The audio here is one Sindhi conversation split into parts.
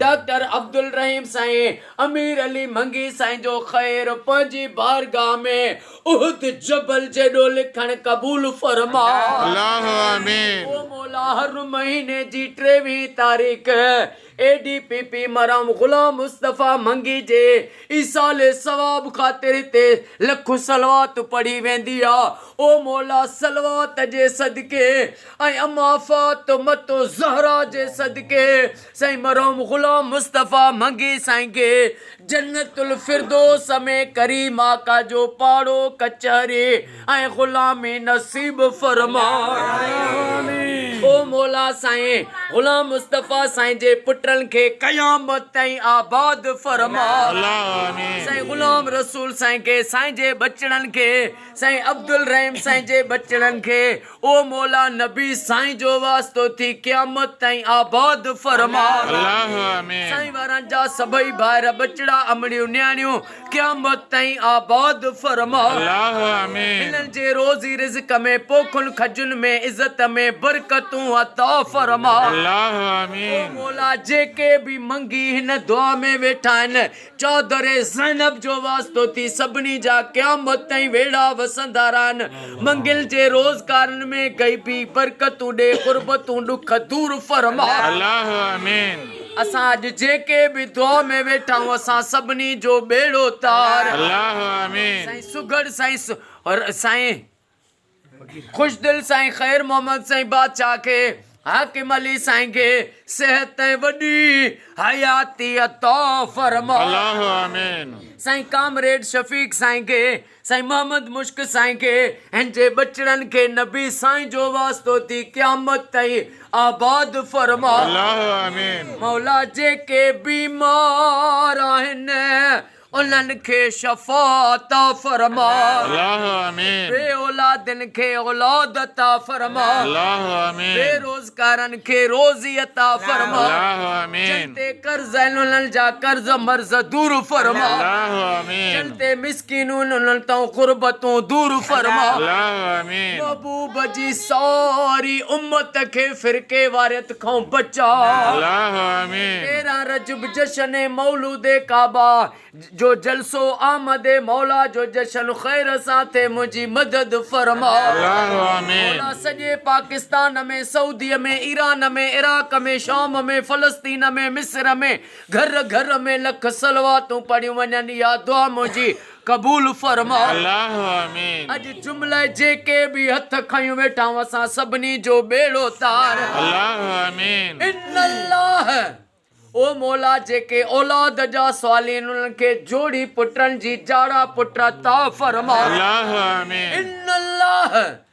ڊاڪٽر عبدالرحيم سائين امير علي منگي سائين جو خير پنهنجي بارگاھ ۾ احد جبل جيڏو لکڻ قبول فرماء الله آمين. او مولا هر مهيني جي ٽيويهين تاريخ اي ڊي پي پي مرحوم غلام مصطفي منگي جي ايصال ثواب خاطر هتي لک صلوات پڙهي ويندي آ او مولا صلوات جي صدقي ۽ اما فاطمة الزهراء جي صدقي سائين مرحوم غلام مصطفيٰ منگي سائين کي جنت الفردوس ۾ ڪريم آقا جو پاڙو ڪچهري ۽ غلامي نصيب فرماء او مولا سائين غلام مصطفيٰ سائين جي پٽن کي قيامت تائين آباد فرماء سائين غلام رسول سائين کي سائين جي ٻچڙن کي سائين عبدالرحيم سائين جي ٻچڙن کي او مولا نبي سائين جو واسطو ٿي قيامت تائين آباد فرما. الله آمين. سائين وارن جا سڀئي ڀائر ٻچڙا امڙيون نياڻيون قيامت تائين آباد فرما. الله آمين. هنن جي روزي رزق ۾ پوکن کجن ۾ عزت ۾ برڪتون عطا فرما. الله آمين. او مولا جيڪي به منگي هن دعا ۾ ويٺا آهن چادر زينب جو واسطو ٿي سڀني جا قيامت تائين ويڙها وسندا رهن منگل جي روزگارن ۾ غيبي برڪتون ڏي غربتون ڏک دور فرما الله آمين. اسان اڄ جيڪي به دعا ۾ ويٺا آهيون اسان سڀني جو ٻيڙو تار الله آمين. سائين سگهڙ سائين سائين. خوشدل سائين خير محمد سائين بادشاهه کي حاڪم علي سائين کي صحت ۽ وڏي حياتي عطا فرماء الله آمين سائين ڪامريڊ شفيق سائين کي سائين محمد مشڪ سائين کي هن جي ٻچڙن کي نبي سائين جو واسطو ٿي قيامت تائين آباد فرماء الله آمين مولا جيڪي بيمار آهن انهن کي شفا عطا فرماء بي اولادن کي اولاد عطا فرماء بي روزگارن کي روزي عطا فرماء جن تي قرض آهن انهن جا قرض مرض دور فرماء جن تي مسڪينون انهن تان غربتون دور فرماء محبوب جي ساري امت کي فرقيواريت کان بچاء تيرهن رجب جشن مولود ڪعبه جو جلسو آمد مولا جو جشن خير سان ٿئي منهنجي مدد فرماء مولا سڄي پاڪستان ۾ سعودي ۾ ايران ۾ عراق ۾ شام ۾ فلسطين ۾ مصر ۾ گهر گهر ۾ لک صلواتون پڙهيون وڃن اها دعا منهنجي قبول فرما الله آمين. اڄ جمله جيڪي به هٿ کنيو ويٺائون اسان سڀني جو ٻيڙو تار. الله آمين. ان الله او مولا جيڪي اولاد جا صالحين انهن کي جوڙي پٽن جي جاڙا پٽ عطا فرما. الله آمين. ان الله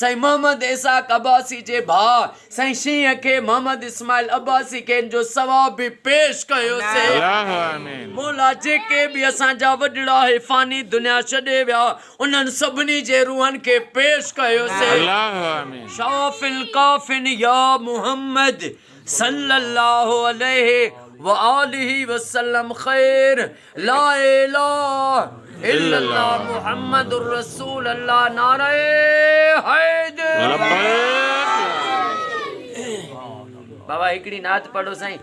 سائين محمد اسحاق عباسي جي ڀاء سائين شينهن کي محمد اسماعيل عباسي کي ان جو ثواب به پيش ڪيو سي. مولا جيڪي به اسان جا وڏڙا هي فاني دنيا ڇڏي ويا انهن سڀني جي روحن کي پيش ڪيو سي. شافي الڪافين يا محمد صلي الله عليه وآله وسلم خير. لااله الا الله محمد رسول الله نعره حيدر بابا هڪڙي نعت پڙهو سائين.